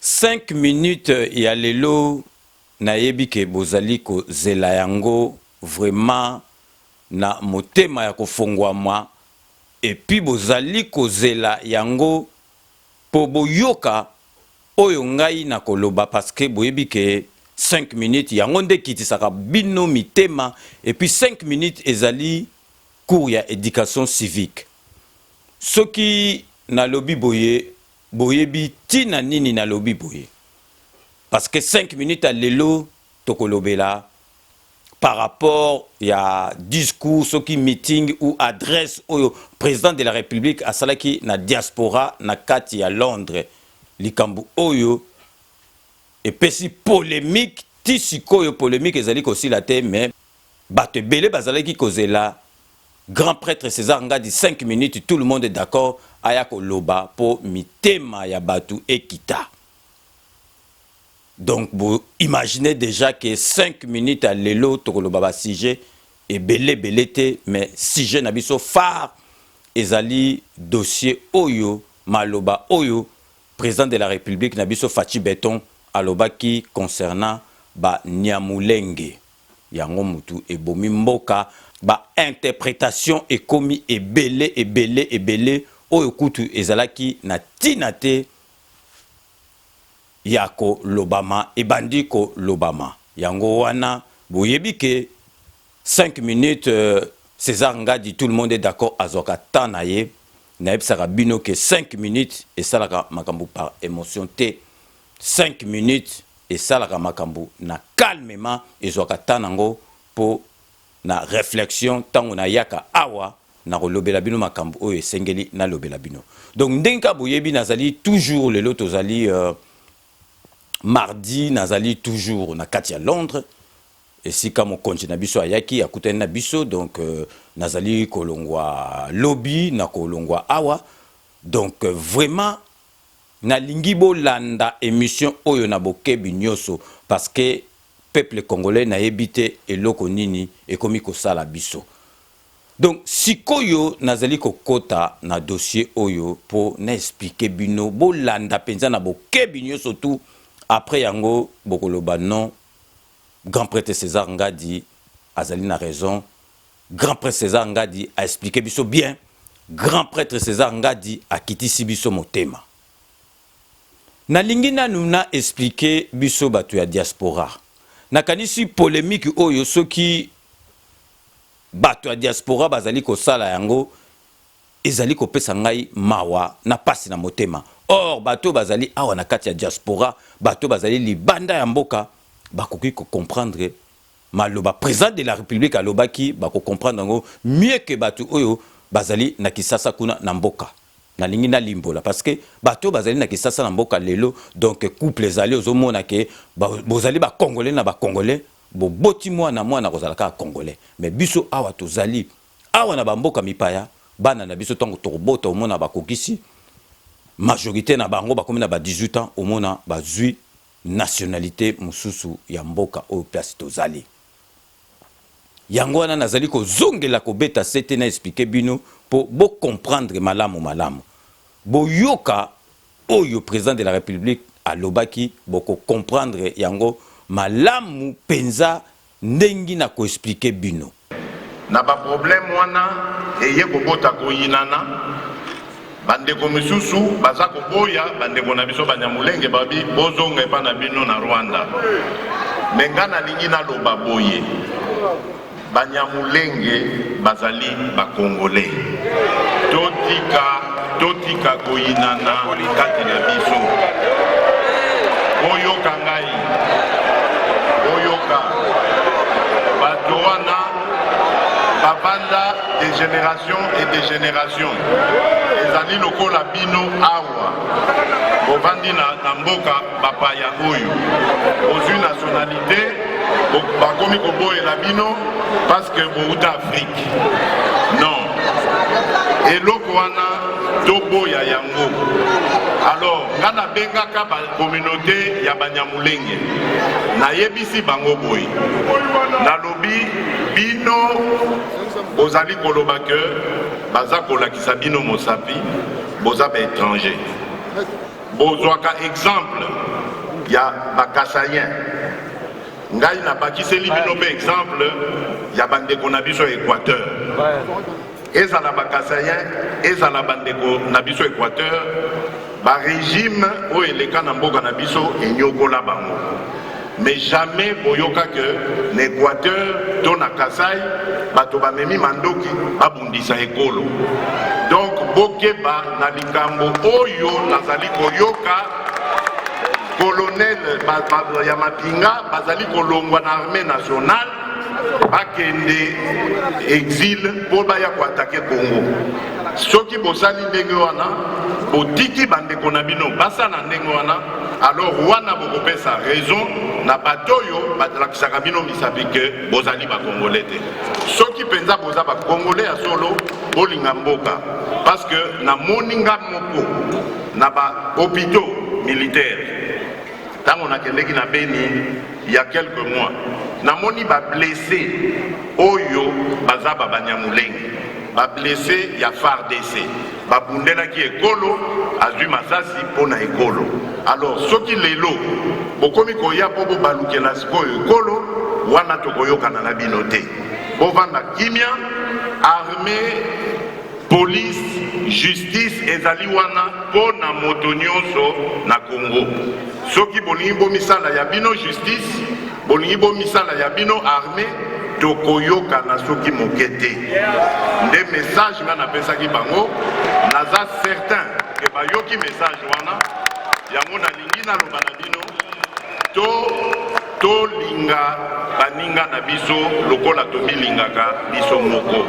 Cinq minutes ya lelo nayebi que bozali kozela yango vraiment na motema ya kofonguama et puis bozali kozela yango po boyoka oyo ngai nakoloba parce que boyebi que cinq minutes yango nde ekitisaka bino mitema et puis cinq minutes ezali cours ya education civique soki nalobi boye Boyebi tina nini nalobi boye? Parce que cinq minutes ya lelo tokolobela par rapport ya discours soki meeting ou adresse oyo President de la Republique asalaki na diaspora na kati ya Londres, likambo oyo epesi polemique ti sikoyo. Polemique ezali kosila te mais. Bato ebele bazalaki kozela Grand pretre Cesar Ngadi cinq minutes tout le monde d'accord aya koloba po mitema ya batu ekita. Donc bo imaginer dejà que cinq minutes ya lelo tokoloba ba sujets ebele ebele te mais sujet na biso phare ezali dossier oyo maloba oyo President de la Republique na biso Fatshi Beton alobaki concernant ba Niamulenge. Yango mutu ebomi mboka. Ba interpretation ekomi ebele ebele ebele oyo kutu ezalaki na tina te yako lobama ebandi ko lobama yango wana boyebi ke cinq minutes Cesar Ngadi tout le monde est d'accord azwaka temps na ye nayebisaka bino ke cinq minutes esalaka makambo par emotion te Cinq minutes esalaka makambo na calmement, ezwaka temps nango po na reflexion, tango nayaka awa nakolobela bino makambo oyo esengeli nalobela bino. Donc ndenge kaka boyebi nazali toujours, lelo tozali mardi, nazali toujours na kati ya Londres, esika mokonzi na biso ayaki akutani na biso, donc nazali kolongwa lobi, nakolongwa awa, donc vraiment, Nalingi bolanda emission oyo na bokebi nioso parce que peuple congolais nayebi te eloko nini ekomi kosala biso. Donc sikoyo nazali kokota na dossier oyo po na expliquer bino bolanda penza na bokebi nioso tout après yango bokoloba non Grand pretre Cesar Ngadi azali na raison, Grand prêtre Cesar Ngadi a explique biso bien, grand prêtre Cesar Ngadi akitisi biso motema. Nalingi nanu na explique biso batu ya diaspora. Nakanisi polemique oyo soki batu ya diaspora bazali kosala yango ezali kopesa ngai mawa na pasi na motema. Or batu bazali awa na kati ya diaspora, batu bazali libanda ya mboka bakoki ko comprendre Maloba president de la republique alobaki bako comprendre yango mieux que batu oyo bazali na kisasa kuna na mboka. Nalingi nalimbola parce que batu oyo bazali na kisasa na mboka lelo donc couple ezali ozo mona que bozali ba congolais na ba congolais boboti mwana mwana akozala kaka congolais mais biso awa tozali awa na ba mboka mipaya bana na biso tango tokobota omona bakokisi majorite na bango bakomi na ba 18 ans omona bazui nationalite mosusu ya mboka oyo place tozali. Yango wana nazali kozongela kobeta sete na expliquer bino mpo bo comprendre malamu malamu. Boyoka oyo President de la Republique alobaki, boko comprendre yango malamu penza Ndengi na ko expliquer bino. Na ba problème wana eye kobota koyinana, ba ndeko misusu baza koboya ba ndeko na biso banyamulenge babi bozonga epa na bino na Rwanda mais nga nalingi naloba boye banyamulenge bazali ba congolais totika Totika koyinana kati na biso. Boyoka ngai, boyoka bato wana babanda de generation et de generation ezali lokola bino awa bovandi na, na mboka bapaya oyo bozwi nationalité bakomi koboyela bino parce que bouta afrique non eloko wana toboya yango alors nga nabengaka bacommunauté ya banyamulenge nayebisi bango boye nalobi bino bozali koloba ke baza kolakisa bino mosapi boza baétranger Bozwaka exemple ya ba Kasaïen, ngai nabakiseli bino mpe exemple ya bandeko na biso ya Equateur. Ezala ba Kasaïen, ezala bandeko na biso Equateur, ba regime oyo eleka na mboka na biso enyokola bango. Mais jamais boyoka que na Equateur to na Kasai bato bamemi mandoki babundisa ekolo. Donc bokeba na likambo oyo nazali koyoka colonel ya mapinga bazali kolongwa na armée nationale bakende exil mpo baya koatake Congo. Soki bosali ndenge wana botiki bandeko na bino basala ndenge wana alors wana bokopesa raison na bato oyo balakisaka bino misapi ke bozali bakongole te soki mpenza boza bakongole ya solo bolinga mboka parce que namoni nga moko na bahopitaux militaire ntango nakendeki na beni ya quelques mois namoni bablesse oyo baza babanyamulenge bablesse ya fardc babundelaki ekolo azwi masasi mpo na ekolo alors soki lelo bokomi koya mpo bobalukela sikoyo ekolo wana tokoyokana na bino te bovanda kimia arme police justice ezali wana mpo na moto nyonso na congo soki bolingi bomisala ya bino justice Bolingi bomisala ya bino armee tokoyokana soki moke te nde message nga napesaki bango naza certain ke bayoki message wana yango nalingi naloba na bino to tolinga baninga na biso lokola tomilingaka biso moko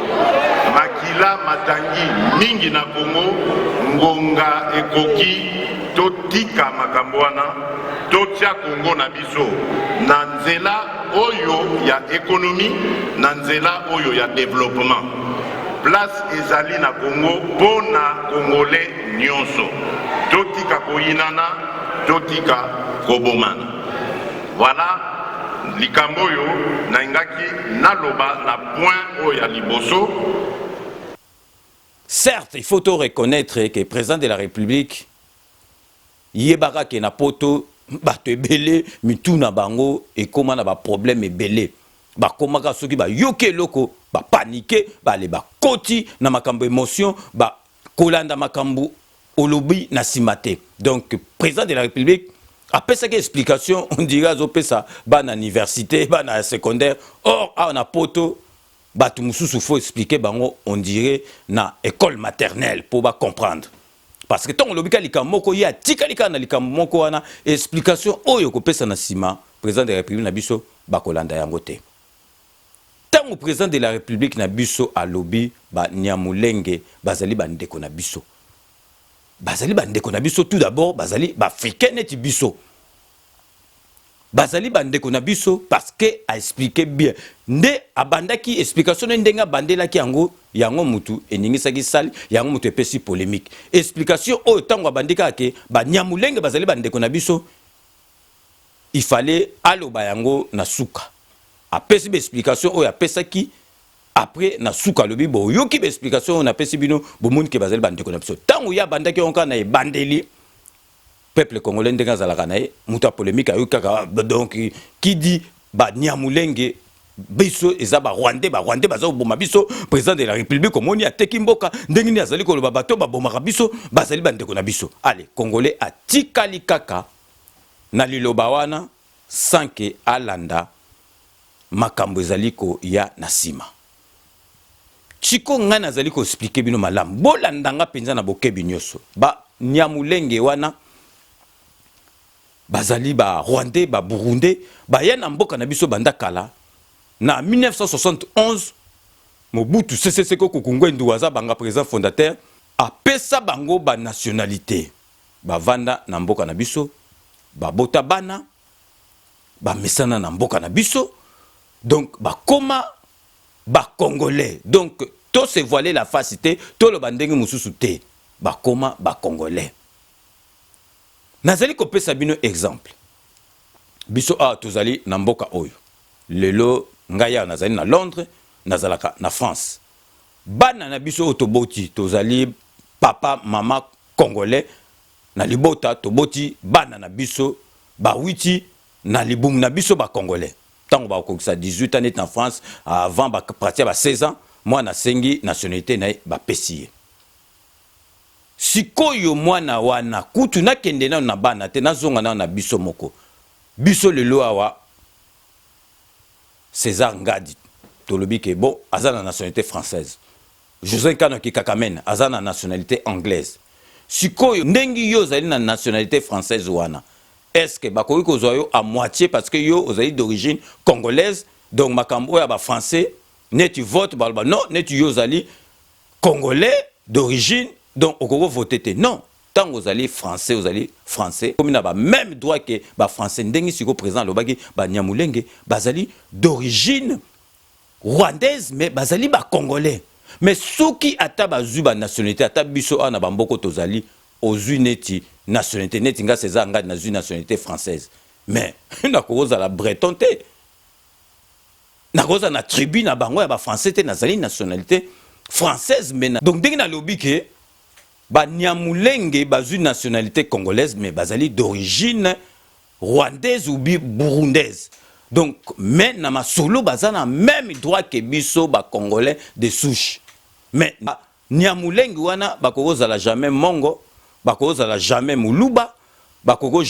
makila matangi mingi na kongo ngonga ekoki totika makambo wana totya kongo na biso biso na nzela oyo ya ekonomi na nzela oyo ya developement place ezali na kongo mpo na kongole nyonso totika koyinana totika kobomana voilà likambo oyo nalingaki naloba na point oyo ya liboso certes il faut to reconnaître que président de la république Yebaka ke na poto batu ebele mitu na bango ekoma na ba problème ebele. Bakomaka soki ba yoki eloko ba panique bale ba koti na makambo emotion ba kolanda makambo olobi na sima te. Donc president de la republique apesaki explication on dirait azo pesa bana universite bana ya secondaire or awa na poto batu mususu faut explique bango on dirait na ecole maternelle po ba comprendre. parce que ntango olobi kaka likambo moko ye atikali kaka na likambo moko wana explication oyo okopesa na nsima président de la république na biso bakolanda yango te ntango président de la république na biso alobi banyamulenge bazali bandeko na biso bazali bandeko na biso tout d'abord bazali baafricain neti biso bazali bandeko na biso parce que a explique bien nde abandaki explication ne ndenge abandelaki yango yango mutu eningisaki sali yango mutu epesi polemique explication oyo ntango abandi kaka ke banyamulenge bazali bandeko na biso il fallait aloba yango na suka apesi ba explication oyo apesaki après na suka alobi boyoki ba explication oyo napesi bino bomoni ke bazali bandeko na biso ntango ye abandaki yango kaka na ebandeli peuple congolais ndenge azalaka na ye mutu ya polemique ayoki kaka ah, donc qui dit ba niamulenge biso eza ba rwandais ba rwandais baza koboma biso président de la république omoni ateki mboka ndenge nini azali koloba bato babomaka biso bazali bandeko na biso ale congolais atikali kaka na liloba wana sanke alanda makambo ezali koya na nsima Sikoyo ngai nazali ko expliquer bino malamu, bolanda nga penza na bokebi nioso. Ba Nyamulenge wana bazali ba Rwandais, ba Burundais, baya na mboka na biso banda kala na 1971 Mobutu Sese Seko Kuku Ngbendu Wazabanga, president fondateur, apesa bango ba nationalites, bavanda na mboka na biso, babota bana. bamesana na mboka na biso donc bakoma bacongolais donc to se voiler la face te toloba ndenge mosusu te bakoma bacongolais nazali kopesa bino exemple biso awa tozali na mboka oyo lelo ngai awa nazali na londres nazalaka na france bana na biso oyo toboti tozali papa mama congolais Na libota toboti bana na biso bawiti na libumu na biso ba congolais tango bakokisa 18 ans neti na France avant ba partir ya ba 16 ans mwana asengi nationalite na ye bapesi ye sikoyo mwana wana kutu nakende nanu na bana te nazonga nanu na biso moko biso lelo awa Cesar Ngadi tolobi ke bon aza na nationalite française Jose Nkanu ya kikakamen aza na nationalite anglaise sikoyo ndenge yo ozali na nationalite française wana est ce que bakoki kozwa yo à moitie parce que yo ozali d'origine congolaise donc makambo oyo ya ba français neti vote baloba non neti yo ozali congolais d'origine donc okoki kovote te non ntango ozali français ozali français okomi na ba meme droit ke ba français ndenge sikoyo président alobaki banyamulenge bazali d'origine Rwandaise mais bazali ba congolais mais soki ata bazui ba nationalite ata biso awa na ba mboko tozali ozui neti nationalite neti nga Cesar ngadi nazui nationalite française mais nakozala breton te nakozala na tribu na bango ya ba français te nazali nationalite française mais donc ndenge nalobi ke ba niamulenge bazui nationalite congolaise mais bazali d'origine Rwandaise ou bi burundaise. Donc mais na masolo baza na meme droit que biso ba congolais de souche. Mais nyamulengi wana bakoko zala jamais mongo, bakoko zala jamais muluba, bakoko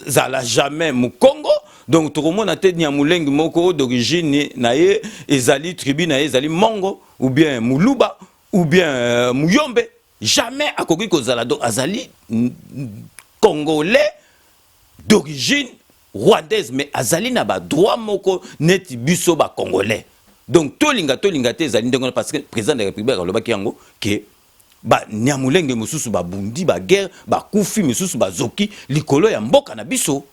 zala jamais mukongo. Donc tokomona te nyamulengi moko d'origine na ye ezali tribu na ye ezali mongo ou bien muluba ou bien euh, muyombe. Jamais akoki kozala donc azali congolais d'origine rwandaise mais azali na ba droit moko neti biso ba congolais. Donc tolinga tolinga te ezali ndenge parce que président de la République alobaki yango que ba nyamulenge mususu ba bundi ba guerre ba kufi mususu ba zoki likolo ya mboka na biso.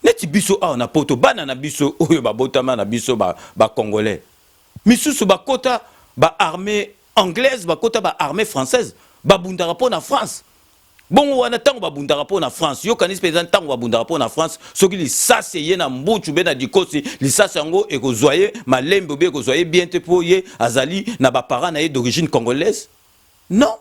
Neti biso awa na poto bana na biso oyo babotama na biso ba, ba congolais misusu bakota ba armée Anglaise bakota ba armee française babundaka mpo na France bongo wana ntango babundaka mpo na France yokanisi mpenza ntango babundaka mpo na France soki lisasi eye na mbutu be na dikosi lisasi yango ekozwa ye malembe obe ekozwa ye bien te mpo ye azali na baparent na ye d'origine congolaise non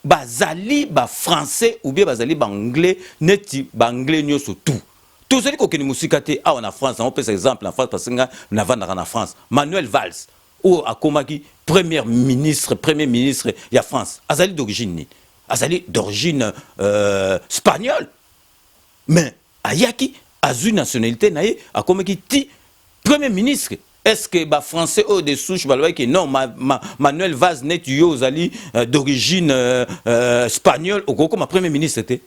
bazali ba français ou bien bazali ba anglais neti ba anglais nioso tout tozali kokende mosika te awa na france na opesa exemple na france parce nga navandaka na france manuel vals oyo akomaki première ministre premier ministre ya france azali d'origine nini azali d'origine euh, spagnole mais Ayaki azui nationalite na ye akomaki ti premier ministre. Est-ce que ba français oyo de souche balobaki que non ma, ma, Manuel Vaz neti yo ozali euh, d'origine euh, euh, espagnole okokoma premier ministre te?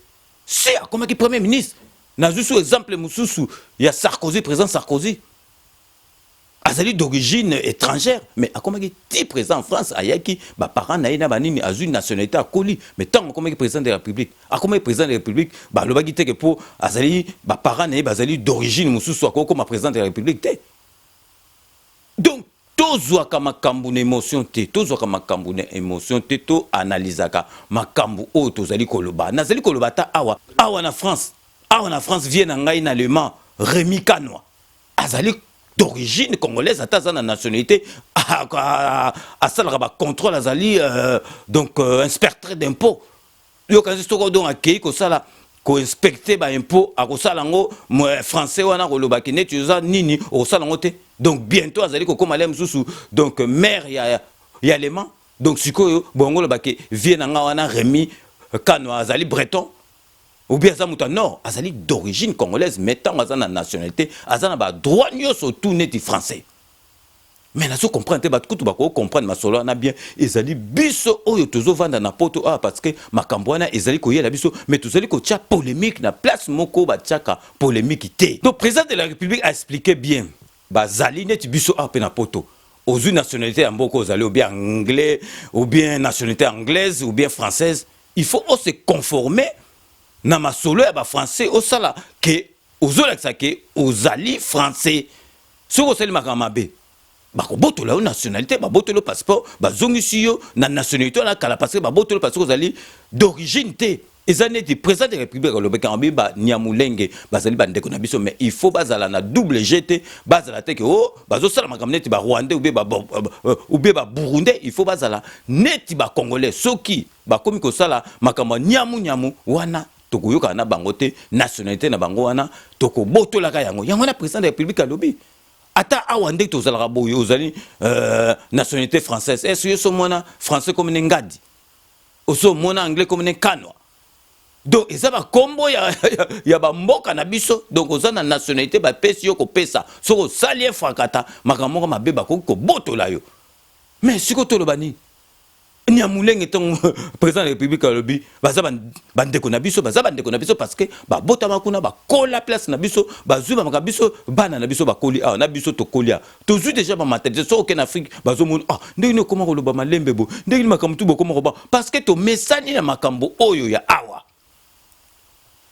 Si akomaki premier ministre. Nazwi sous exemple mosusu ya Sarkozy, président Sarkozy. azali d'origine étrangère mais akomaki ti président en France ayaki ba parents na ye na banini azui nationalité akoli mais tango akomaki président de la République akomaki président de la République balobaki teke po azali ba parents na ye bazali d'origine mosusu akoki koma président de la République te donc tozwaka makambo na émotion te tozwaka makambo na émotion te to analysaka makambo oyo tozali koloba nazali koloba ata awa awa na France awa na France vie na ngai na allemand Rémi Kanwa azali d'origine congolaise ata aza na nationalité asalaka bacontrôle azali euh, donc euh, inspecteur d'impôt yokanisi soko donc akei kosala koinspecte baimpôt akosala yango français wana akolobaki neti oza nini okosala yango te donc bientôt azali kokoma le mosusu donc maire ya, ya lema donc sikoyo bongo olobaki vie na ngai wana remi kano azali breton ou bien aza moto ya nord azali d'origine congolaise mais ntango aza na nationalité aza na badroit nyonso tout neti français mais nazo comprendre te bato kutu bakoki comprendre masolo wana bien ezali biso oyo tozovanda na poto awa parce que makambo wana ezali koyela biso mais tozali kotya polemique na place moko batyaka polemique te donc président de la république a expliqué bien bazali neti biso awa mpe na poto ozwi nationalité ya mboka ozali ou bien anglais ou bien nationalité anglaise ou bien française Il faut o se conformer na masolo ya ba français osala que ozolakisa que ozali français soki osali makambo mabe bakobotola yo nationalité babotoli yo passeport bazongisi yo na nationalité wana kala parce que babotoli parce que ozali d'origine te eza neti président de république alobaki yango ba nyamulenge bazali bandeko na biso mais il faut bazala na double g te bazala te ke o oh, bazosala makambo neti ba rwandais oubie ba, euh, oubie ba burundais il faut bazala neti ba congolais soki Bakomi kosala makambo ya nyamu nyamu wana tokoyokana na bango te nationalite na bango wana tokobotolaka yango yango wana president de la republique alobi ata awa nde tozalaka boye ozali euh, nationalité française est ce yo somona français comme ne ngadi osomona anglais comme ne kanwa donc eza bakombo ya, ya, ya bamboka na biso donc oza na nationalité bapesi yo kopesa soki osali ye frakata makambo moko mabe bakoki kobotola yo mais siko toloba nini Nyamulenge ntango président de la république alobi baza bandeko na biso baza bandeko na biso parce que babotama kuna bakola place na biso bazwi bamaka biso bana na biso bakoli awa na biso tokoli awa tozwi déjà bamaternité soki okende afrique bazomoni ah ndenge nini okoma koloba malembe bo ndenge nini makambo tu bokoma koba parce que tomesani na makambo oyo ya awa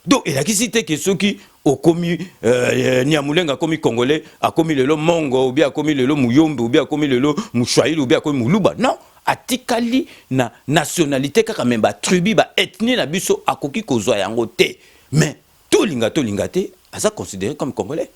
donc elakisi te ke soki okomi euh, niamulenga akomi congolais akomi lelo mongo obi akomi lelo muyombe obi akomi lelo mushwahili obi akomi muluba non atikali na nationalité kaka me batribu baethnie na biso akoki kozwa yango te mais tolinga tolinga te aza considéré comme congolais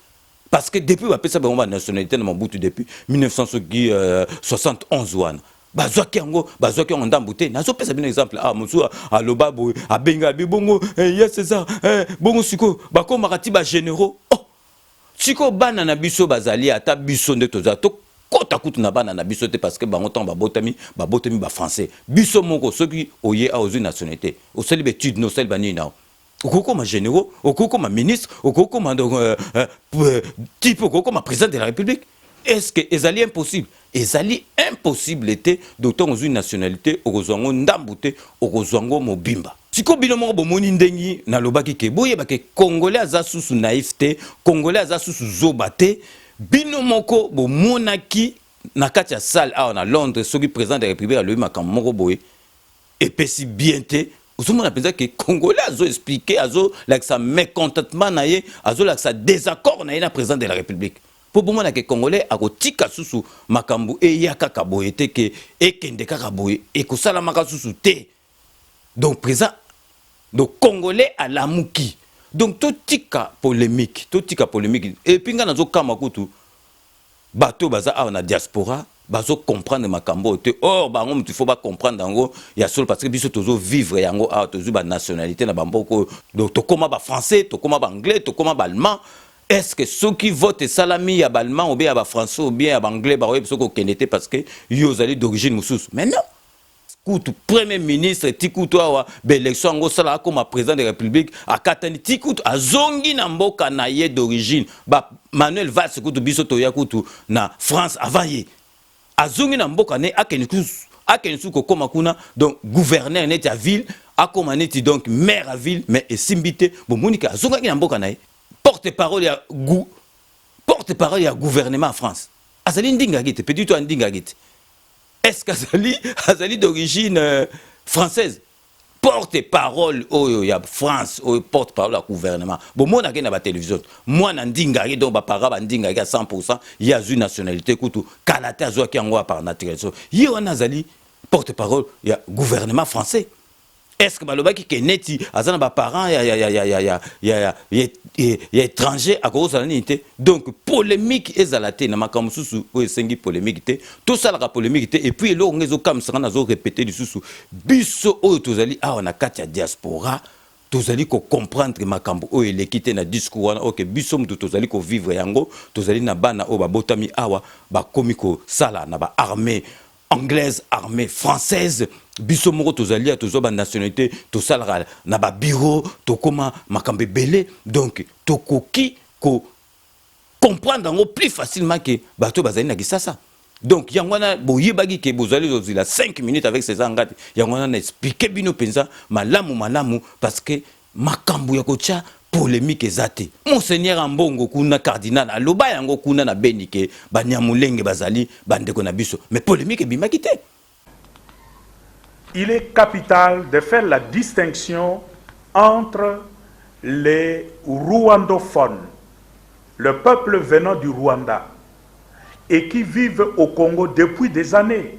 parce que depuis bapesa bango ba nationalité na Mobutu depuis 1971 wana bazwaki yango bazwaki yango ndambo te nazopesa bino exemple ah mosusu aloba boye abenga bi bongo eh, ya césar eh, bongo sikoyo bakomaka ti bagénéraux oh sikoyo bana na biso bazali ata biso nde tozala tokota kutu na bana na biso te parce que bango ntango babotami babotami bafrançais biso moko soki oye awa ozwi nationalité osali baetude no osali banini nao okoki koma généraux okoki koma ministre okoki koma euh, euh, euh, type okoki koma président de la république est ce que ezali impossible ezali impossible te docteur ozwi nationalité okozwa yango ndambu te okozwa yango mobimba sikoyo bino moko bomoni ndenge nalobaki ke boyeba ke congolais aza susu naïf te congolais aza susu zoba te bino moko bomonaki na kati ya salle awa na londres soki président de la république alobi makambo moko boye Epesi bien te. Ozomona penza ke congolais azo expliquer azo lakisa mecontentement na ye azo lakisa desaccord na ye na president de la republique po bomona ke congolais akotika susu makambo eya kaka boye te ke ekende kaka boye ekosalamaka susu te donc president donc congolais alamuki donc totika polemique totika polemique epuis ngai nazokamwa kutu Batu oyo baza awa na diaspora bazo comprendre makambo oyo te or bango mutu il faut ba comprendre yango ya solo parce que biso tozo vivre yango awa tozui ba nationalite na ba mboka oyo donc tokoma ba français tokoma ba anglais tokoma ba allemand est ce que soki vote esalami ya ba allemand ou bien ya ba français ou bien ya ba anglais bakoki biso kokende te parce que yo ozali d'origine mosusu mais non kutu premier ministre ti kutu awa baelection yango osala akoma président de république akatani ti kutu azongi na mboka na ye d'origine ba manuel vals kutu biso toya kutu na france avant ye azongi na mboka ne akende kutu akende su kokoma kuna donc gouverneur neti ya ville akoma neti donc maire ya ville mais esimbi te bomoni ke azongaki na mboka na ye porte parole ya gou porte parole ya gouvernement ya france azali ndingaki te petit to andingaki te est ce qu'azali azali d'origine euh, française porte parole oyo ya france oyo porte parole ya gouvernement bomonake na batelevision mwana ndingaki donc bapara bandingaki ya 100 pourcent ye azwi nationalité kutu kala te azwaki yango ya par naturalisation ye wana azali porte parole ya gouvernement français Est-ce que balobaki ke neti aza na ba parents ya ya ya ya ya ya ya ya ya ya étranger akozala nini te donc polemique ezala te na makambo mosusu oyo esengi polemique te tosalaka polemique te et puis eloko nga ezokamwisa nga nazo répéter lisusu biso oyo tozali awa na kati ya diaspora tozali ko comprendre makambo oyo eleki te na discours wana oke biso moto tozali ko vivre yango tozali na bana oyo babotami awa bakomi kosala na ba armée anglaise armée française biso moko tozali ya tozwa banationalité tosalaka na babiro tokóma makambo ebele donc tokoki ko comprendre yango plus facilement ke bato bazali na kisasa donc yango wana boyebaki ke bozali kozila 5 minutes avec césar ngati yango wana na explike bino mpenza malamu malamu parce que Makambu ya kotia polemique eza te. Monseigneur Ambongo kuna cardinal aloba yango kuna na Beni ke baniamulenge bazali ba ndeko na biso mais polemique ebimaki te. Il est capital de faire la distinction entre les rwandophones, le peuple venant du Rwanda et qui vivent au Congo depuis des annees.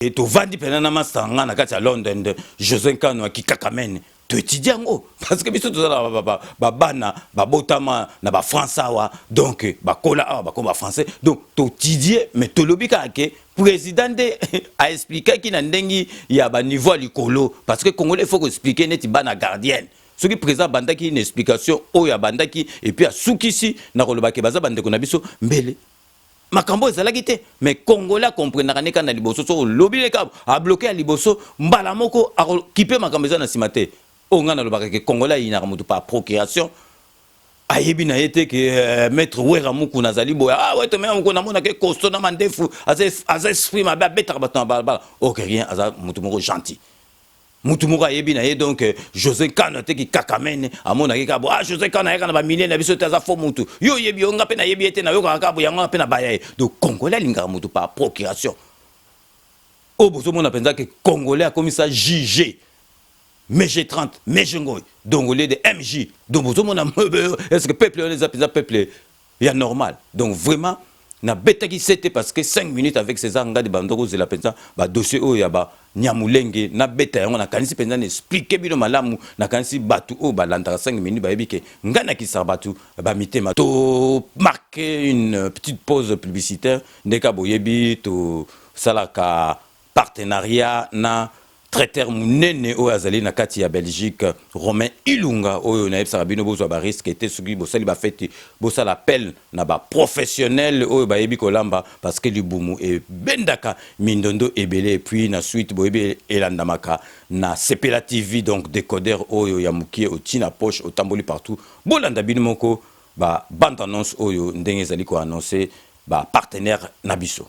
Et tovandi pena na masta nga na kati ya London de José Nkano ya kikakamene to étudier yango parce que biso tozala ba, ba, ba, ba bana babotama na ba France awa donc bakola awa bakoma ba français donc totidier mais tolobi kaka ke président nde a expliquaki na ndenge ya ba niveau ya likolo parce que congolais faut ko expliquer neti bana gardienne soki président abandaki une explication oyo abandaki epuis asukisi na kolobake baza bandeko na biso mbele makambo ezalaki te mais congolais akomprenaka nde kaka na liboso so olobi nde kaka abloke ya liboso mbala moko akokipe makambo eza na nsima te oyo ngai nalobaka ke congolais ayinaka moto par procuration ayebi na ye te ke euh, maître wera mukuna azali boye ah wete mea mukuna amonaka ekosto na mandefu aza esprit mabe abetaka bato na balabala ok rien aza moto moko gentil mutu moko ayebi na ye donc euh, José Nkano te ki kakamene amonaki kabo ah José Nkano ayaka na ba milliers na biso te aza faux mutu yo oyebi yo nga pe nayebi ye te nayokaka kabo yango nga pe na baya ye donc congolais alingaka mutu par procuration oyo bozomona mpenza ke congolais akomisa juge mg 30 mg ngoi donc au lieu de mj donc bozomona est ce que peuple wana eza mpenza peuple Ya normal donc vraiment na betaki sete parce que 5 minutes avec Cesar Ngadi bando ko zela penza ba dossier oyo ya ba nyamulenge na beta yango na kanisi penza na expliquer bino malamu na kanisi batu oyo ba landaka 5 minutes ba yebi ke nga na kisa batu ba mitema to marque une petite pause publicitaire ndeka boyebi to salaka partenariat na traiteur munene oyo azali na kati ya Belgique Romain Ilunga oyo nayebisaka bino bozwa ba risque te soki bosali ba feti bosala appel na ba professionnel oyo bayebi kolamba parce que libumu ebendaka mindondo ebele et puis na suite boyebi elandamaka na sepela TV donc decoder oyo ya mukie oti na poche otamboli partout bolanda bino moko ba bande annonce oyo ndenge ezali ko annoncer ba partenaires na biso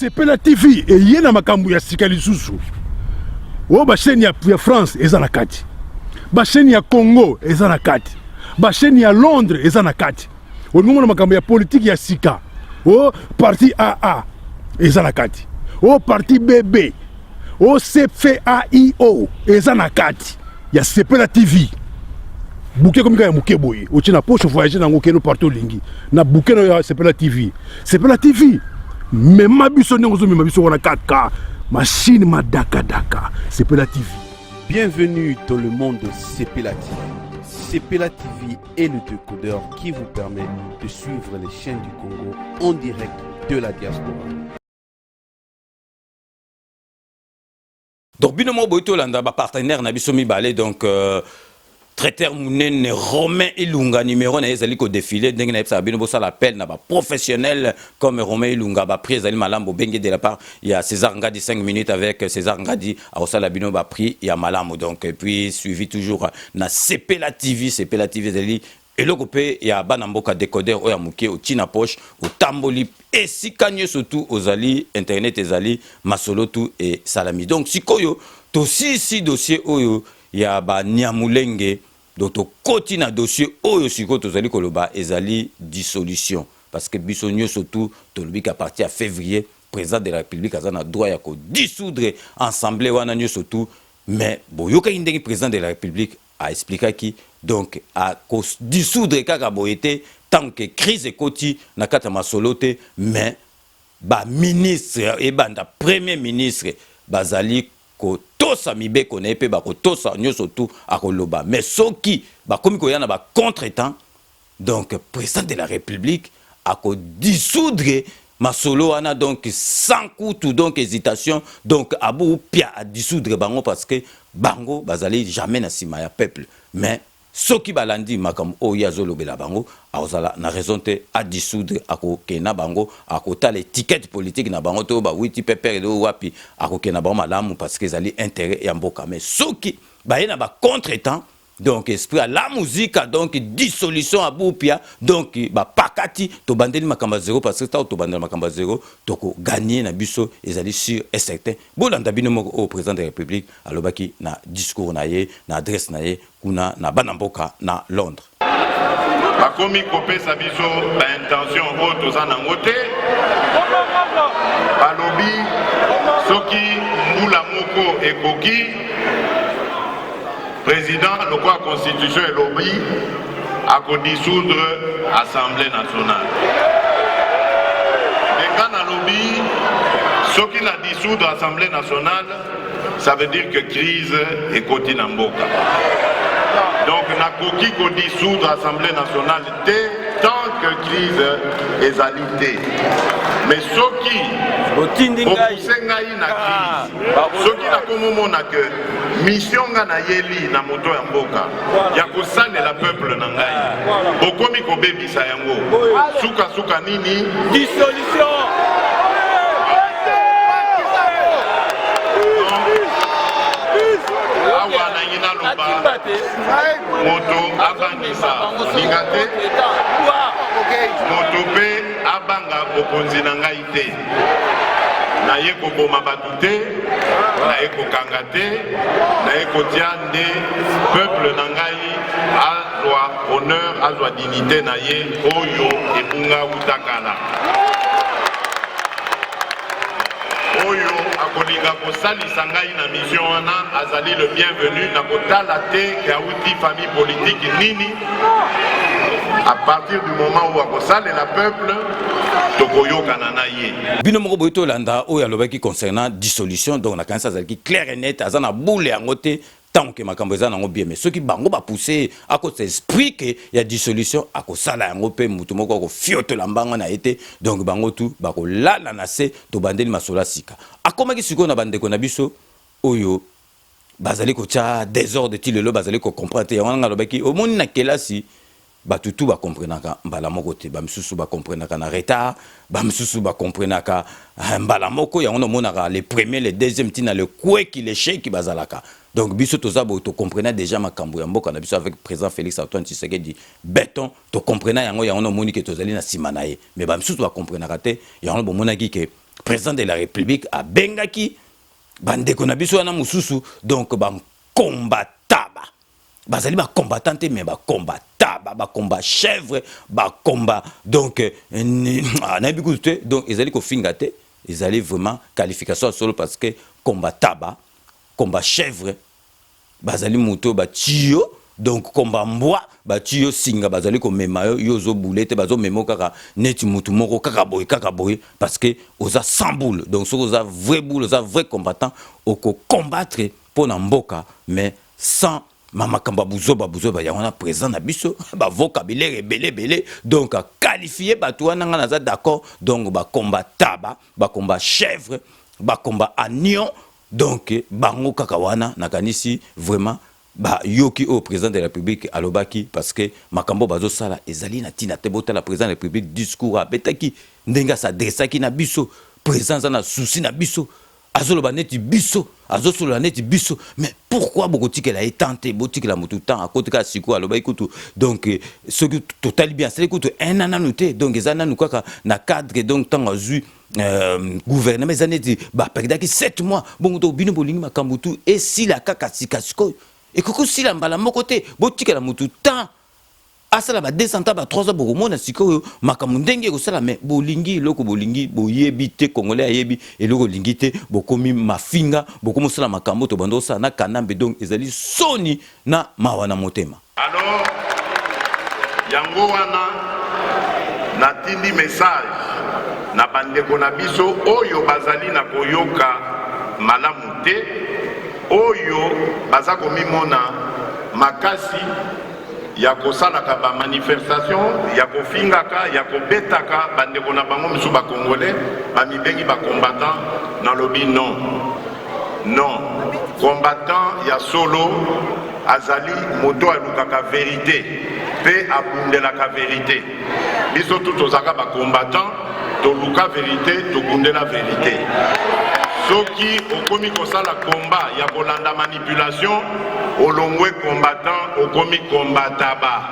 sepela tv eye na makambo ya sika lisusu oyo basheni ya, ya france eza na kati basheni ya congo eza na kati basheni ya londres eza na kati olingongo na makambo ya politiki ya sika o parti aa eza na kati o parti bb OCFAIO eza na kati ya Sepela TV. Bouquet comme ya muke boye, otie na poche voyager nango keno partout lingi. Na bouquet ya Sepela TV. Sepela TV. Mema biso ndenge ozo mema biso wana kaka machine madaka daka. Sepela TV. Bienvenue dans le monde de Sepela TV. Sepela TV est le décodeur qui vous permet de suivre les chaînes du Congo en direct de la diaspora. donc bino moko boyi tolanda bapartenaire na biso mibale donc euh, traiteur munene romain ilunga numero na ye ezali kodefile ndenge nayebisaka bino bosala appel na baprofessionnel comme romain ilunga baprix ezali malamu bobenge de la part ya césar ngadi 5 minutes avec césar ngadi akosala bino baprix ya malamu donc et puis suivi toujours na sepela tv sepela tv ezali Eloko pe ya bana mboka decoder oyo ya mukie otie na poche otamboli esika nioso tout ozali internet ezali masolo tout esalami donc sikoyo tosilisi dossier oyo ya ba niamulenge donc tokoti na dossier oyo sikoyo tozali koloba ezali dissolution parce que biso nioso tout tolobi ke à partir ya fevrier president de la republique aza na droit ya ko dissoudre ensemble wana nioso tout mais boyokaki ndenge president de la republique A explikaki donc a ko dissoudre kaka boye te tango ke crise ekoti na kati ya masolo te mais ba ministres ebanda premier ministre bazali ko tosa mibeko na ye pe bako tosa nioso tout ako loba mais soki bakomi koya na ba contre temps Donc president de la republique ako dissoudre masolo wana donc sans kutu donc hesitation donc abu pia a dissoudre bango parce que bango bazali jamais na sima ya peuple mais soki balandi makambo oyo ye azolobela bango akozala na raison te a dissoudre akokende na bango akotala etiquette politique na bango to bawiti pepere to wapi akokende na bango malamu parce que ezali intérêt ya mboka mais soki baye na ba contre temps donc esprit à la musique donc dissolution à boupia donc bapakati tobandeli makambo ya zero parce que ntango tobandela makambo ya zero tokoganye na biso ezali sur et certain bolanda bino moko oyo président de la république alobaki na discours na ye na adresse na ye kuna na bana mboka na londres bakomi kopesa biso baintention oyo toza nango te balobi soki mbula moko ekoki President lokola constitution elobi ako dissoudre assemblée nationale. Nga nalobi soki na dissoudre assemblée nationale ça veut dire que crise ekoti na mboka. Donc nakoki ko dissoudre assemblée nationale te tant que crise ezali te. Mais soki otindi ngai na crise soki nakomomona que misio nga nayeli na moto ya mboka ya kosalela peuple na ngai bokomi kobebisa yango sukasuka nini dissolution awa nangi naloba moto abangisa moninga te moto mpe abanga bokonzi na ngai te naye koboma bato te naye kokanga te naye kotia nde peuple na ngai azwa honneur azwa dignité na ye oyo ebunga wutakala oyo akolinga kosalisa ngai na mission wana azali le bienvenu na kotala te ke awuti famille politiki nini à partir du moment où akosalela peuple tokoyokana na ye bino moko boyi tolanda oyo alobaki concernant dissolution donc nakanisi azalaki claire et net aza na boule yango te ntango ke makambo eza nango bien mais soki bango bapousse akotisa esprit ke ya dissolution akosala yango mpe motu moko akofiotola mbanga na ye te donc bango tu bakolala na se tobandeli masolo ya sika akomaki sikoyo na bandeko na biso oyo bazali kotya desordre ti lelo bazali kocomprendre te yango wana ngai alobaki omoni na kelasi bato tu bakomprenaka mbala moko te bamisusu bakomprenaka na retard bamisusu bakomprenaka eh, mbala moko yango namonaka le premier le deuxième ntina le kweki le sheki bazalaka donc biso toza boye tokomprena déjà makambo ya mboka na biso avec président félix antoine tshisekedi beton tokomprena yango yango namoni ke tozali na nsima na ye mais bamisusu bakomprenaka te yango bomonaki ke président de la république abengaki ba ndeko na biso wana mususu donc ba combataba bazali ba combattant te mais ba combataba ba combat chèvre ba combat donc euh, ah, na biku te donc ezali ko finga te ezali vraiment qualification solo parce que combataba combat chèvre bazali moto oyo batiyo donc komba mbwa batiyo singa bazali komema yo yo ozo boule te bazo memo kaka neti moto moko kaka boye kaka boye parce que oza sans boule donc soki oza vrai boule oza vrai combattant oko combattre mpo na mboka mais sans ma makambo ya buzoba buzoba yango wana président na biso bavoka bilere ebele ebele donc qualifie bato wana ngai naza d'accord donc bakomba taba bakomba chèvre bakomba agnon Donc bango kaka wana nakanisi vraiment ba yoki oyo president de la republique alobaki parce que makambo bazo sala ezali na tina te botala president de la republique discours abetaki ndenge a s'adressaki na biso president aza na souci na biso azoloba neti biso azosolola neti biso mais pourquoi bokotikela ye temps te botikela motu temps akoti kaka sikoyo alobaki kutu donc euh, soki totali bien asali kutu un an nanu te donc eza nanu kaka na cadre donc ntango azwi Euh, gouvernement eza neti baperdaki 7 mois bongo to bino bolingi makambo tu esila kaka sika sikoyo ekoki kosila mbala moko te botikela motu temps asala ba 200 ans ba 300 bokomona sikoyo makambo ndenge ekosala me bolingi eloko bolingi boyebi te congolais ayebi eloko olingi te bokomi mafinga bokomi osala makambo tobanda osala na kanambe donc ezali soni na mawa na motema Alors yango wana natindi message na ba ndeko na biso oyo bazali na koyoka malamu te, oyo baza komimona makasi ya kosalaka ba manifestation ya kofingaka ya kobetaka bandeko na bango mosusu bakongole bamibengi bacombattant nalobi non Non, combattant ya solo azali moto alukaka verite mpe abundelaka verite. Biso tu tozalaka ba combattant, toluka verite, tobundela verite. soki okomi kosala komba ya kolanda manipulation olongwe combattant okomi combataba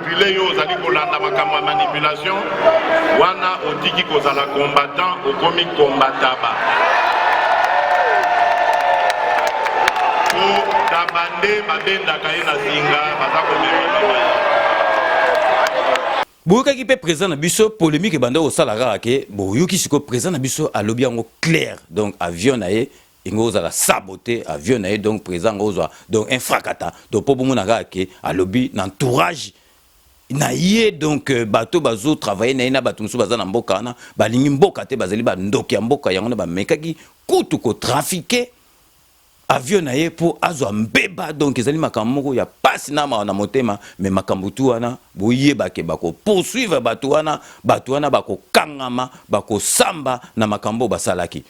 Pile yo ozali kolanda makambo ya manipulation wana otiki kozala combattant okomi combataba taba nde babendaka ye na zinga baza komemela boyokaki mpe président na biso polémique ebanda kosala kaka ke boyoki sikoyo président na biso alobi yango claire donc avion na ye Ingo ozala sabote avion na ye donc president ngo ozwa donc un fracata donc po bomona kaka ke alobi na entourage na ye donc euh, bato bazo travailler na ye na bato mosusu baza na mboka wana balingi mboka te bazali bandoki ya mboka yango na bamekaki kutu kotrafike avion na ye mpo azwa mbeba donc ezali makambo moko ya pasi na mawa na motema me makambo tu wana boyebake bakopoursuivre bato wana bato wana bakokangama bakosamba na makambo oyo basalaki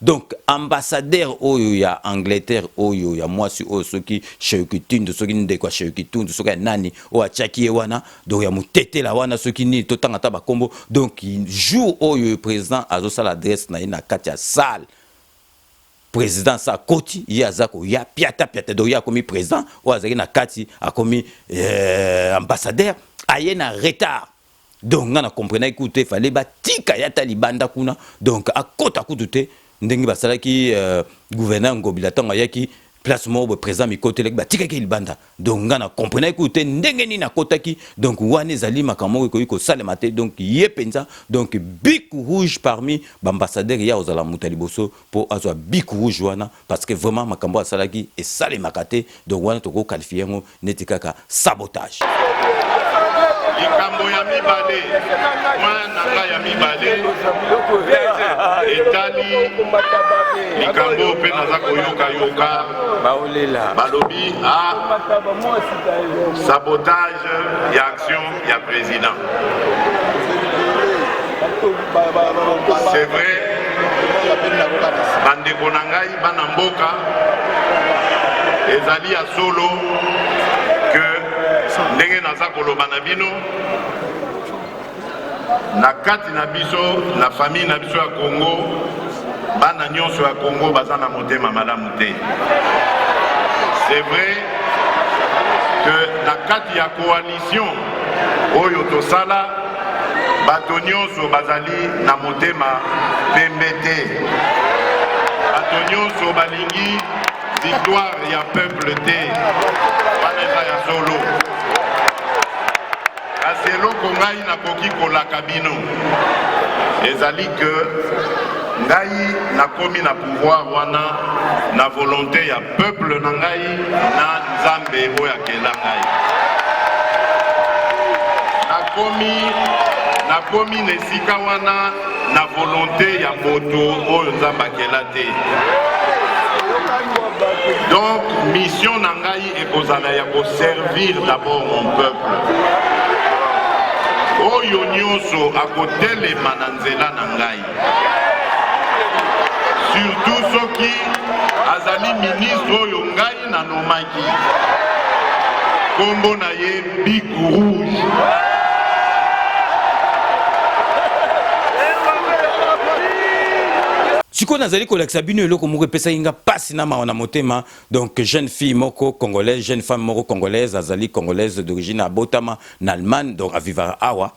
Donc ambassadeur oyo ya Angleterre oyo ya mwasi oyo soki Sheukitindo soki ndeko ya Sheukitindo soki ya nani oyo atiaki ye wana donc ya mutetela wana soki nini totanga ata bakombo donc jour oyo président azosala adresse na ye na kati ya salle présidence akoti ye aza koya piata piata donc ye akomi président oyo azalaki na kati akomi euh, ambassadeur aye na retard donc nga na comprenaki kutu te fallait batika ye ata libanda kuna donc akota kutu te ndenge basalaki euh, gouverneur ngobila ntango ayaki place moko boye président mikotelaki batikaki libanda donc nga na comprenaki kutu te ndenge nini akotaki donc wana ezali makambo moko ekoki kosalema te donc ye mpenza donc bik rouge parmi baambassadeur ye akozala moto ya liboso mpo azwa bik rouge wana parce que vraiment makambo asalaki esalemaka te donc wana toko qualifie yango neti kaka sabotage likambo ya mibale mwana na ngai ya mibale etali likambo mpe naza koyokayoka balobi a ah, sabotage ya action ya president c'est vrai bandeko na ngai bana mboka ezali ya solo ke ndenge naza koloba na bino na kati na biso na famille na biso ya congo bana nyonso ya congo baza na motema malamu te c'est vrai que na kati ya koali Action oyo tosala, bato nyonso bazali na motema pembe te. Bato nyonso balingi victoire ya peuple te. Wana eza ya solo. Kasi eloko ngai nakoki kolaka bino ezali que ngai nakomi na pouvoir wana na volonte ya Peuple na ngai na Nzambe oyo akela ngai. Nakomi nakomi na esika wana na volonte ya moto oyo Nzambe akela te. Donc mission na ngai ekozala ya ko servir d'abord mon peuple. Oyo nyonso akotelema na nzela na ngai surtout soki azali ministre oyo ngai nanomaki nkombo na ye big rouge sikoyo nazali kolakisa bino eloko moko epesaki nga mpasi na mawa na motema donc jeune fille moko congolaise jeune femme moko congolaise azali congolaise d'origine abotama na allemagne donc avivaka awa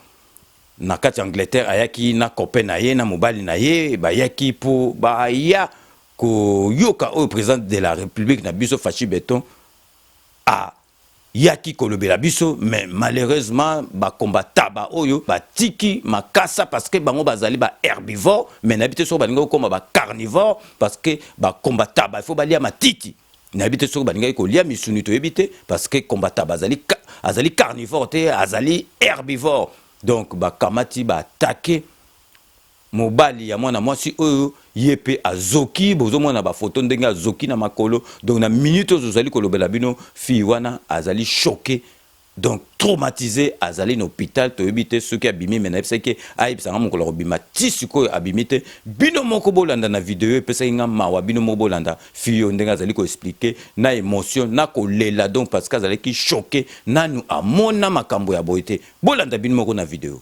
na kati ya Angleterre ayaki na copain na ye na mobali na ye bayaki mpo baya koyoka oyo president de la republique na biso Fashi Beton ayaki kolobela biso mais malheureusement ba combataba oyo batiki makasa parce que bango bazali ba herbivore mais nayebi te soki balingi kokoma ba carnivore parce que ba combataba il faut balia matiti nayebi te soki balingaki kolia misuni toyebi te parce que combattant bazali azali carnivore te azali herbivore donc bakamati baatake mobali ya mwana mwasi oyo ye mpe azoki bozomona bafoto ndenge azoki na makolo donc na minute oyo ozali kolobela bino fille wana azali choke Donc traumatise azali na hopital toyebi te soki abimi mais nayebisaki ye ayebisa nga mokolo akobima ti sikoyo abimi te bino moko bolanda na video epesaki nga mawa bino moko bolanda fille oyo ndenge azali ko explique na emotion na kolela donc parce que azalaki choque nanu amona makambo ya boye te bolanda bino moko na video.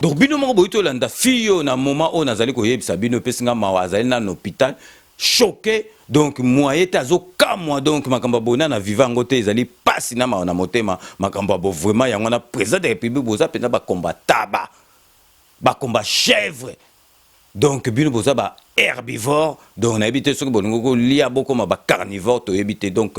donc bino moko boyi tolanda fille oyo na moment oyo nazali koyebisa bino epesi nga mawa azali nano hôpital choque donc moyen te azokamwa donc makambo ya boye na na viva yango te ezali mpasi na mawa na motema makambo ya bo vraiment yango wana président de république boza mpenza bakomba taba bakomba chèvre donc bino boza ba herbivore donc nayebi te soki bolingi kolia bokoma ba carnivore toyebi te donc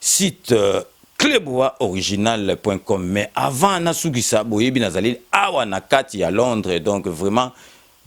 site euh, clubwa original.com mais avant nasukisa boyebi nazali awa na kati ya londres donc vraiment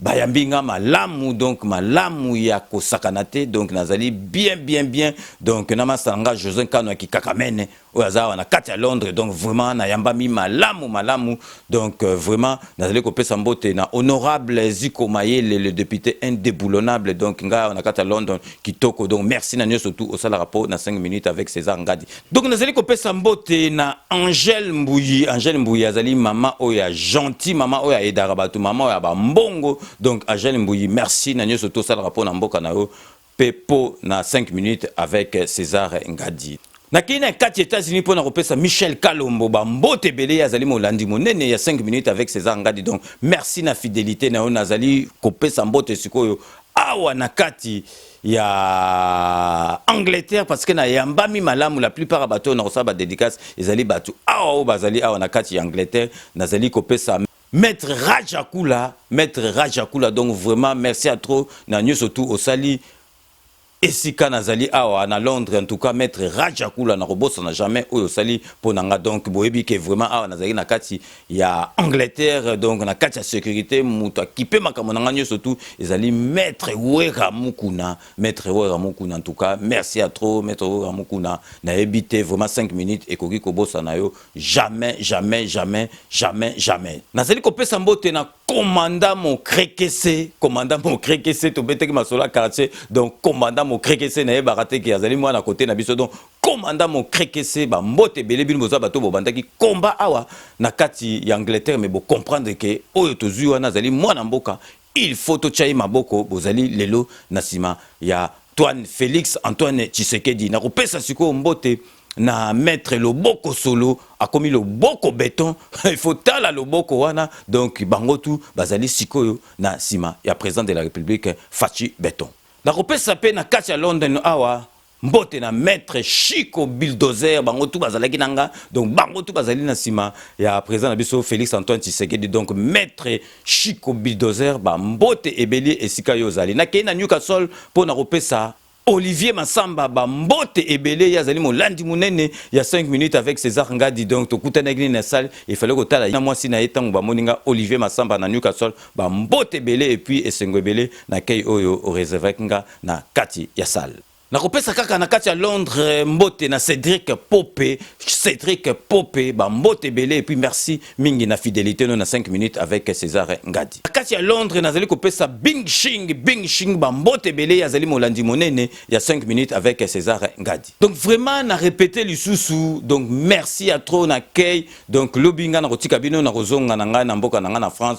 bayambi nga malamu donc malamu ya kosakana te donc nazali bien bien bien donc na masala nga josé nkano ya kikakamene oyo aza awa na kati ya londres donc vraiment nayambami malamu malamu Donc euh, vraiment nazali kopesa mbote na honorable Ziko Mayele le député indéboulonnable donc nga na kata London kitoko donc merci na nyoso tout osala rapport na 5 minutes avec César Ngadi. Donc nazali kopesa mbote na Angèle Mbuyi, Angèle Mbuyi azali mama oyo gentil, mama oyo edara bato, mama oyo ba mbongo. Donc Angèle Mbuyi merci na nyoso tout osala rapport na mboka na yo. pe po na 5 minutes avec Cesar Ngadi. Nakeyi na kati ya Etats-Unis po na kopesa Michel Kalombo ba mbote ebele, ye azali molandi monene ya 5 minutes avec Cesar Ngadi donc merci na fidelite na yo. Nazali kopesa mbote sikoyo awa na kati ya Angleterre parce que na yambami malamu, la plupart ya bato oyo nakosala ba dedicaces ezali bato awa oyo bazali awa na kati ya Angleterre. Nazali kopesa. Maître Rajakula, Maître Rajakula, donc vraiment merci à trop na nyoso tout osali esika nazali awa na Londres en tout cas Maître Rajakula na kobosana jamais oyo osali mpo na nga donc boyebi ke vraiment awa nazali na kati ya Angleterre donc na kati ya sécurité moto akipe makambo na nga nyoso tout ezali Maître Wera Mukuna Maître Wera Mukuna en tout cas merci à trop Maître Wera Mukuna nayebi te vraiment 5 minutes ekoki kobosana yo jamais jamais jamais jamais jamais nazali kopesa mbote na komanda mokrekese komanda mokrekese tobetaki masolo ya quartier donc komanda mokrekese nayebaka te ke azali mwana kote na biso donc komanda mokrekese bambote ebele bino boza bato bobandaki komba awa na kati ya angleterre me bocomprendre ke oyo tozwi wana azali mwana mboka Il faut totya ye maboko bozali lelo na nsima ya Antoine Felix Antoine Tshisekedi. Nakopesa sikoyo mbote na maitre loboko solo akomi loboko beton il faut tala loboko wana donc bango tu bazali sikoyo na nsima ya president de la republique Fatshi Beton. Nakopesa mpe na kati ya London awa Mbote na maître Chico Bulldozer, bango tout bazalaki nanga, donc bango tout bazali na sima ya président na biso Félix Antoine Tshisekedi, donc maître Chico Bulldozer, ba mbote ebeli esika yo ozali. Nakei na Newcastle mpo na kopesa Olivier Massamba ba mbote ebele ye azali molandi monene ya 5 minutes avec César Ngadi donc tokutanaki na salle il fallait kotala na mwasi na ye ntango bamoni nga Olivier Massamba na Newcastle ba mbote ebele et puis esengo ebele na kei oyo oreservaki nga na kati ya salle. Nakopesa kaka na kati ya Londres mbote na Cedric Pope, Cedric Pope, ba mbote ebele et puis merci mingi na fidelite no na 5 minutes avec Cesar Ngadi. Na kati ya Londres nazali kopesa Bing Shing, Bing Shing ba mbote ebele azali molandi monene ya 5 minutes avec Cesar Ngadi. Donc vraiment na répéter lisusu, donc merci à trop na kei. Donc lobi nga na kotika bino na kozonga na ngai na mboka na ngai na France.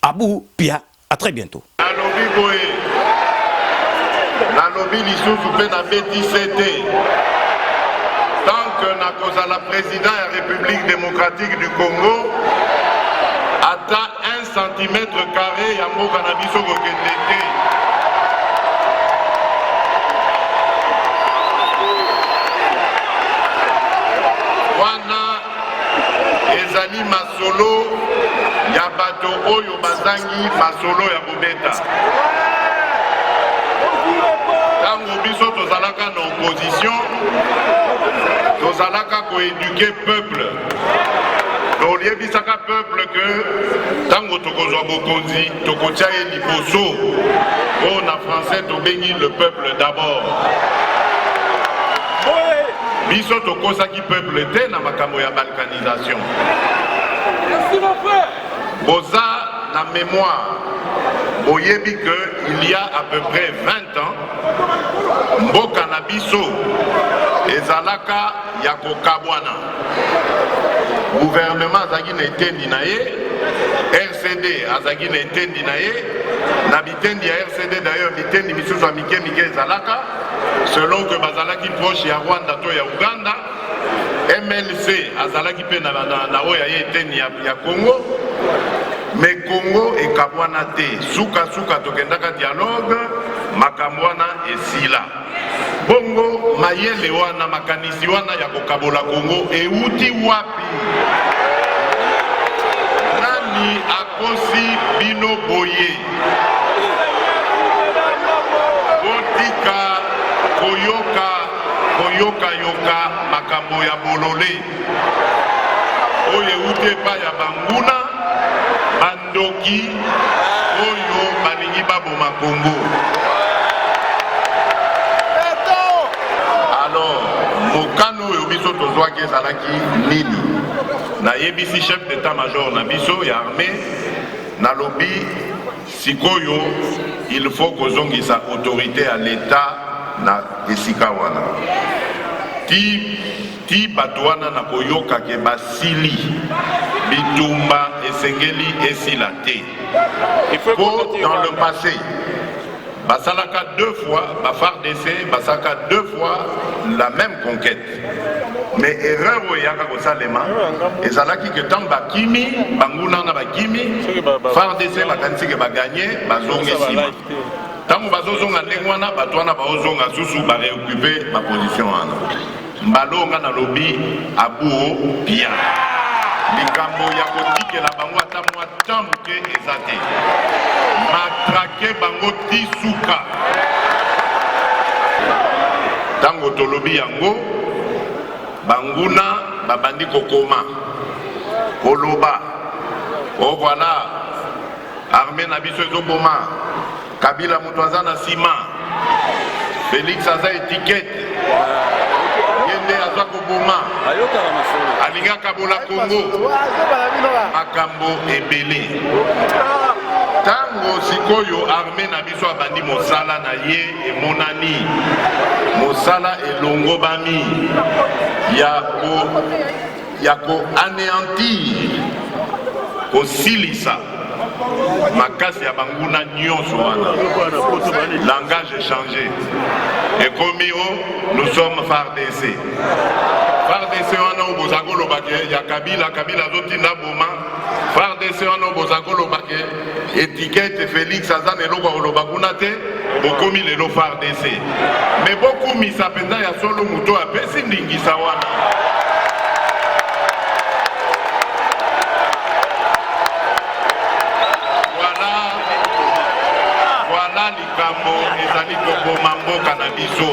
Abu pia a très bientot. Nalobi boye, nalobi lisusu mpe nabeti se te, tant que nakozala president ya Republique democratique du Congo, ata un centimètre carre ya mboka na biso kokende te. Wana ezali masolo ya bato oyo bazangi masolo ya kobeta ntango biso tozalaka na opposition tozalaka koeduke peuple toyebisaka peuple ke ntango tokozwa bokonzi tokotya ye liboso mpo na français tobengi le peuple d'abord biso tokosaki peuple te na makambo ya balkanisation boza na mémoire boyebi que il y a à peu près 20 ans mboka na biso ezalaka ya kokabwana guvernema azalaki na etendi na ye rcd azalaki na etendi na ye Bitendi ya RCD d'ailleurs bitendi misusu ya mike mike ezalaka selon que bazalaki proche ya Rwanda to ya Uganda. MLC azalaki mpe na oyo ya ye eteni ya Congo me Congo ekabwana te, sukasuka tokendaka dialogue, makambo wana esila. Bongo mayele wana, makanisi wana ya kokabola Kongo ewuti wapi? Nani akosi bino boye? Botika koyoka koyokayoka makambo ya bolole oyo ewuti epai ya banguna Ndoki oyo balingi baboma Congo. Alors, mokano oyo biso tozwaki ezalaki nini? Nayebisi chef d'état-major na biso ya armée, nalobi sikoyo il faut kozongisa autorité ya l'État na esika wana ti Ti bato wana na koyoka ke basili, bitumba esengeli esila te. Po dans le passe, basalaka deux fois, ba FARDC basalaka deux fois la meme conquete. Mais erreur oyo eyaka kosalema ezalaki ke ntango bakimi, banguna wana bakimi, FARDC bakanisi ke baganye, bazongi nsima. Ntango bazozonga ndenge wana, bato wana baozonga susu ba reoccuper ba position wana. Mbalo nga nalobi abuo bien likambo ya kotikela bango ata mwa temps moke eza te matrake bango ti suka ntango tolobi yango banguna babandi kokoma koloba o oh, voilà arme na biso ezoboma Kabila moto aza na sima. Felix aza etikete. Ye nde aza koboma. Alingaka bola Kongo. Makambo ebele. Tango sikoyo arme na biso abandi mosala na ye emonani mosala elongobami ya ya ko aneantir kosilisa makasi ya banguna nyonso wana langage echange ekomi o oh, nous sommes fardc fardc wana oyo boza kolobake ya kabila kabila azotinda boma fardc wana oyo boza kolobake etiquette Felix aza na eloko akoloba kuna te bokomi lelo FARDC me bokumisa mpenza ya solo moto oyo apesi ndingisa wana voilà voilà likambo ezali koboma mboka na biso